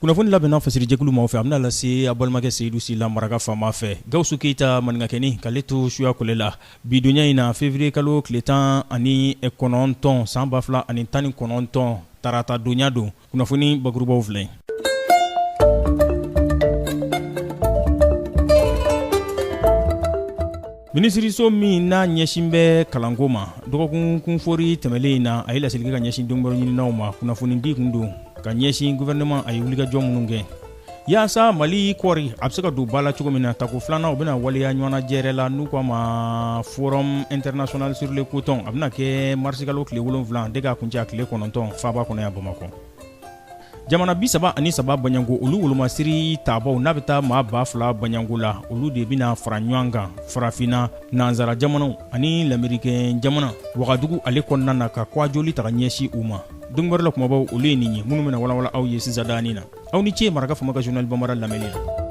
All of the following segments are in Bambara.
Kunnafoni labɛnna fasirijɛkulu maaw fɛ a bɛna lase a balimakɛ seyidu sila maraka fama fɛ gawusu keyita maninkakɛni k'ale to suyakolɛ la bi donya in na février kalo tile tan ani kɔnɔntɔn san ba fila ani tan ni kɔnɔntɔn tarata donya don kunnafoni bakurubaw filɛ Minisiririso min n'a ɲɛsin bɛ kalanko ma dɔgɔkun kunfori tɛmɛlen in na a ye laseli kɛ ka ɲɛsin donkibaru ɲininaw ma kunnafonidi tun don ka ɲɛsin gouvernement a ye wulikajɔ minnu kɛ yaasa mali kɔri a bɛ se ka don ba la cogo min na tako filanan o bɛna waleya ɲɔgɔnnajɛrɛ la n'u k'a ma forum international sur le coton a bɛna kɛ marisikalo tile wolonwula de k'a kuncɛ tile kɔnɔntɔn faaba kɔnɔ yan bamakɔ jamana bi saba ani saba bɔɲɔgɔnko olu wolomasiri taabaw n'a bɛ taa maa ba fila bɔɲɔgɔnko la olu de bɛna fara ɲɔgɔn kan farafina nansara jamanaw ani lamerikɛn jamana wagadugu ale kɔnɔna na ka kwajoli ta ka ɲɛsi u ma donkibaru la kumabaw olu ye nin ye minnu bɛna walawala aw ye sisan daani na aw ni ce maraka fama ka journal bambara lamɛnni na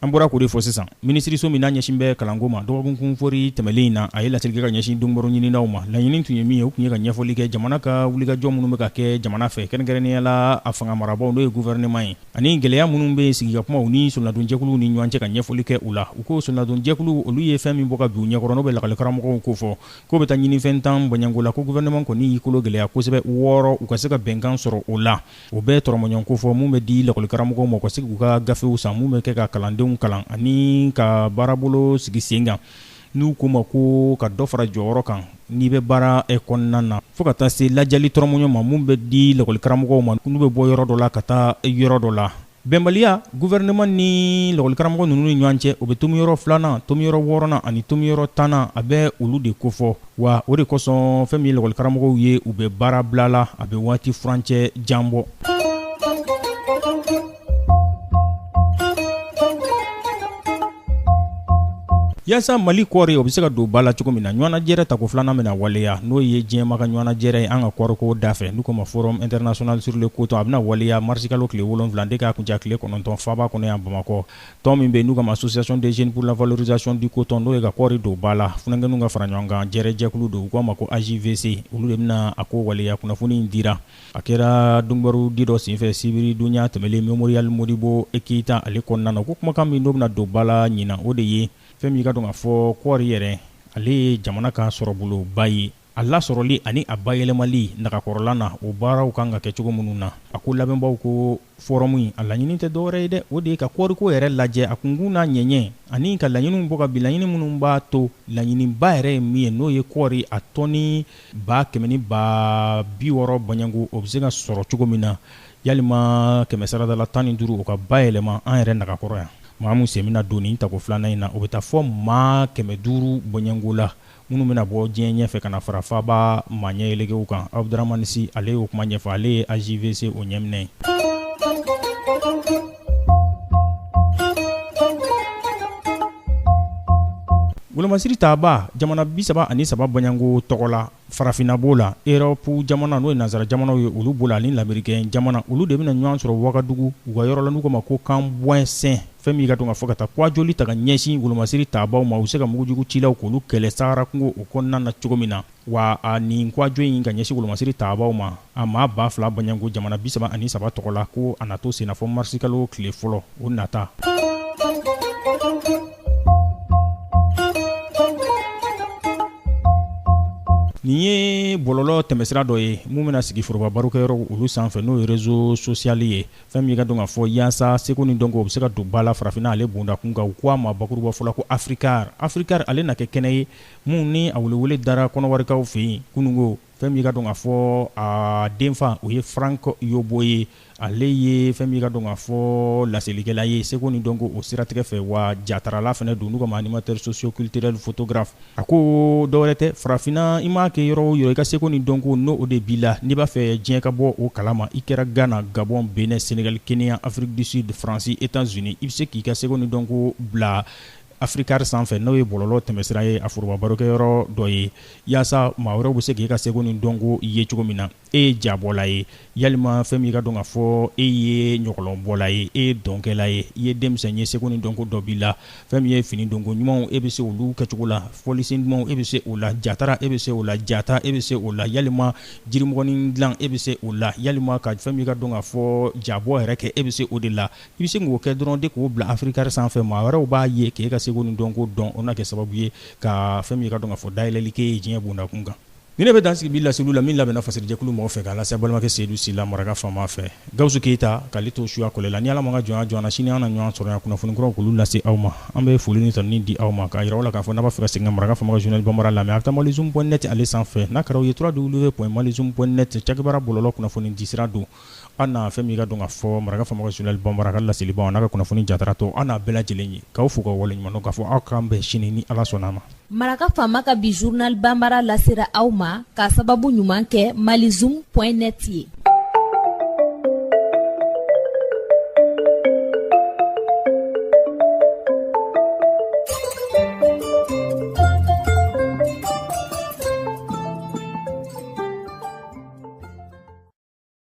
An bɔra k'o de fɔ sisan minisiriso min n'a ɲɛsin bɛ kalanko ma dɔgɔkun kunfori tɛmɛlen in na a ye laseli kɛ ka ɲɛsin donkibaru ɲininaw ma laɲini tun ye min ye o tun ye ka ɲɛfɔli kɛ jamana ka wulikajɔ minnu bɛ ka kɛ jamana fɛ kɛrɛnkɛrɛnnenya la a fanga marabaw n'o ye gouvernement ye ani gɛlɛya minnu bɛ sigikakumaw ni solonadonjɛkuluw ni ɲɔgɔn cɛ ka ɲɛfɔli kɛ u la u ko solonadonjɛkulu olu ye fɛn min bɔ ka bin u ɲɛkɔrɔ n'o bɛ lakɔlikaramɔgɔw kofɔ k'o bɛ taa ɲinifɛn tan bɔɲɔgɔnko la ko gouvernement kɔni y'i kolo gɛlɛya kosɛbɛ wɔɔrɔ u ka se ka bɛnkan sɔrɔ o la o bɛ tɔrɔmɔɲɔ kofɔ min bɛ di lakɔlikaramɔgɔw ma u ka se k'u ka gafew san min bɛ kɛ ka kalandenw kalan ani ka baarabolo sigi sen kan n'u k'o ma ko ka dɔ fara jɔyɔrɔ kan n'i bɛ baara kɔnɔna na fo ka taa se lajali tɔrɔmɔɲɔ ma min bɛ di lakɔlikaramɔgɔw ma n'u bɛ bɔ yɔrɔ dɔ la ka taa yɔrɔ dɔ la Bɛnbaliya gouvernement ni lakɔlikaramɔgɔ ninnu ni ɲɔgɔn cɛ o bɛ tomiyɔrɔ filanan tomiyɔrɔ wɔɔrɔnan ani tomiyɔrɔ tannan a bɛ olu de kofɔ wa o de kosɔn fɛn min ye lakɔlikaramɔgɔw ye u bɛ baara bila la a bɛ waati furancɛ jan bɔ Yaasa mali kɔɔri o bɛ se ka don ba la cogo min na ɲɔgɔnnajɛrɛ tako filanan bɛna waleya n'o ye diɲɛma ka ɲɔgɔnnajɛrɛ ye an ka kɔɔriko da fɛ n'u k'a ma forum international sur le coton a bɛna waleya marisikalo tile wolonwula de k'a kuncɛ tile kɔnɔntɔn faaba kɔnɔ yan bamakɔ tɔn min bɛ n'u k'a ma association des jeunes pour la valorisation du coton n'o ye ka kɔɔri don ba la funankɛninw ka fara ɲɔgɔn kan jɛrɛjɛkulu don u k'a ma ko AJVC olu de bɛna a ko waleya kunnafoni in dira A kɛra donkibarudi dɔ senfɛ sibiridonya tɛmɛlen memorial modibo e keyita ale kɔnɔna na ko kumakan min n'o bɛna don ba la ɲina o de ye fɛn min i k'a dɔn k'a fɔ kɔɔri yɛrɛ ale ye jamana ka sɔrɔboloba ye a lasɔrɔli ani a bayɛlɛmali nagakɔrɔla na o baaraw kan ka kɛ cogo minnu na a ko labɛnbaaw ko Fɔrɔmu in a laɲini tɛ dɔwɛrɛ ye dɛ o de ye ka kɔɔriko yɛrɛ lajɛ a kunkun n'a ɲɛɲɛ ani ka laɲiniw bɔ ka bin laɲini minnu b'a to laɲiniba yɛrɛ ye min ye n'o ye kɔɔri a tɔni ba kɛmɛ ni ba bi wɔɔrɔ bɔɲɔgɔnko o bɛ se ka sɔrɔ cogo min na yalima kɛmɛsarada la tan ni duuru o ka bayɛlɛma an yɛrɛ nagakɔrɔ yan maa min sen bɛna don nin tako filanan in na o bɛ taa fo maa kɛmɛ duuru bɔɲɔgɔnko la minnu bɛna bɔ diɲɛ ɲɛfɛ ka na fara faaba maa ɲɛyɛlɛgew kan Abudramani Si ale y'o kuma ɲɛfɔ ale ye AJVC o ɲɛminɛ ye. Wolomasiri taabaa jamana bi saba ani saba bɔɲɔgɔnko tɔgɔ la, farafinna b'o la, Europe jamana n'o ye nansara jamanaw ye olu b'o la ani lamerikɛn jamana olu de bɛna ɲɔgɔn sɔrɔ Wagadugu u ka yɔrɔ la n'u k'o ma ko Kamboinsin fɛn min ka dɔn ka fɔ ka taa kuwajoli ta ka ɲɛsin wolomasiri taabaw ma u bɛ se ka mugujugu cilaw k'olu kɛlɛ sahara kungo o kɔnɔna na cogo min na wa a nin kuwajo in ka ɲɛsin wolomasiri taabaw ma a maa ba fila bɔɲɔgɔnko jamana bisaba ani saba tɔgɔ la ko a na to senna fo marisikalo tile fɔlɔ o nata nin ye bɔlɔlɔ tɛmɛsira dɔ ye min bɛna sigi foroba barokɛyɔrɔw olu sanfɛ n'o ye rezo sosiyali ye fɛn min ka dɔn ka fɔ yaasa seko ni dɔnko o bɛ se ka don ba la farafinna ale bonda kun kan u ko a ma bakurubafɔ la ko africar africar ale na kɛ kɛnɛ ye min ni a welewele dara kɔnɔwarikaw fɛ yen kununko fɛn min ka dɔn ka fɔ a denfa o ye Frank Yobo ye ale ye fɛn min ka dɔn ka fɔ laselikɛla ye seko ni dɔnko o siratigɛ fɛ wa jatarala fɛnɛ don n'u k'a ma animateur socio-culturel photographe A ko dɔwɛrɛ tɛ farafinna i maa kɛ yɔrɔ o yɔrɔ i ka seko ni dɔnko n'o de b'i la n'i b'a fɛ diɲɛ ka bɔ o kalama i kɛra gana gabɔn benɛ senegali keniya afrique du sud faransi etats-unis i bɛ se k'i ka seko ni dɔnko bila africar sanfɛ n'o ye bɔlɔlɔ tɛmɛsira ye a forobabarokɛyɔrɔ dɔ ye yaasa maa wɛrɛw bɛ se k'i ka seko ni dɔnko ye cogo min na e ye jabɔla ye yalima fɛn min ka dɔn ka fɔ e ye ɲɔgɔlɔnbɔla ye e ye dɔnkɛla ye i ye denmisɛn ye seko ni dɔnko dɔ b'i la fɛn min ye fini donko ɲumanw e bɛ se olu kɛcogo la fɔlisen dumanw e bɛ se o la jatara e bɛ se o la jata e bɛ se o la yalima jirimɔgɔnin dilan e bɛ se o la yalima ka fɛn min ka dɔn ka fɔ jabɔ yɛrɛ kɛ e bɛ se o de la i bɛ se k'o kɛ dɔrɔn de k'o bila africar sanfɛ maa wɛrɛw b'a ye k'e ka seko ni dɔnko dɔn o na kɛ sababu ye ka fɛn min ka dɔn ka fɔ dayɛlɛli k'e ye diɲɛ bonda kun kan Nin de bɛ dan sigi bi laseliw la min labɛnna fasiri jɛkulu mɔgɔ fɛ k'a lase balimakɛ seyidu sila maraka faama fɛ gawusu keyita k'ale to suya kɔlɛ la ni ala ma ka jɔn jɔna sini an na ɲɔgɔn sɔrɔ yan kunnafoni kuraw k'olu lase aw ma an bɛ foli ni tanuni di aw ma k'a yira aw la k'a fɔ n'a b'a fɛ ka segin ka maraka faama ka journal bambara lamɛn a bɛ taa malizoom point net ale sanfɛ n'a kɛra o ye trois w point malizoom point net cakɛbara bɔlɔlɔ kunnafoni disira don An na fɛn min ka don ka fɔ maraka faama ka journal bambara ka laselibaw n'a ka kunnafoni jatara tɔ an n'a bɛɛ lajɛlen ye k'aw fo ka waleɲuman dɔn k'a fɔ aw k'an bɛn sini ni ala sɔnna a ma maraka faama ka bi journal bambara lasera aw ma k'a sababu ɲuman kɛ mali zoom point net ye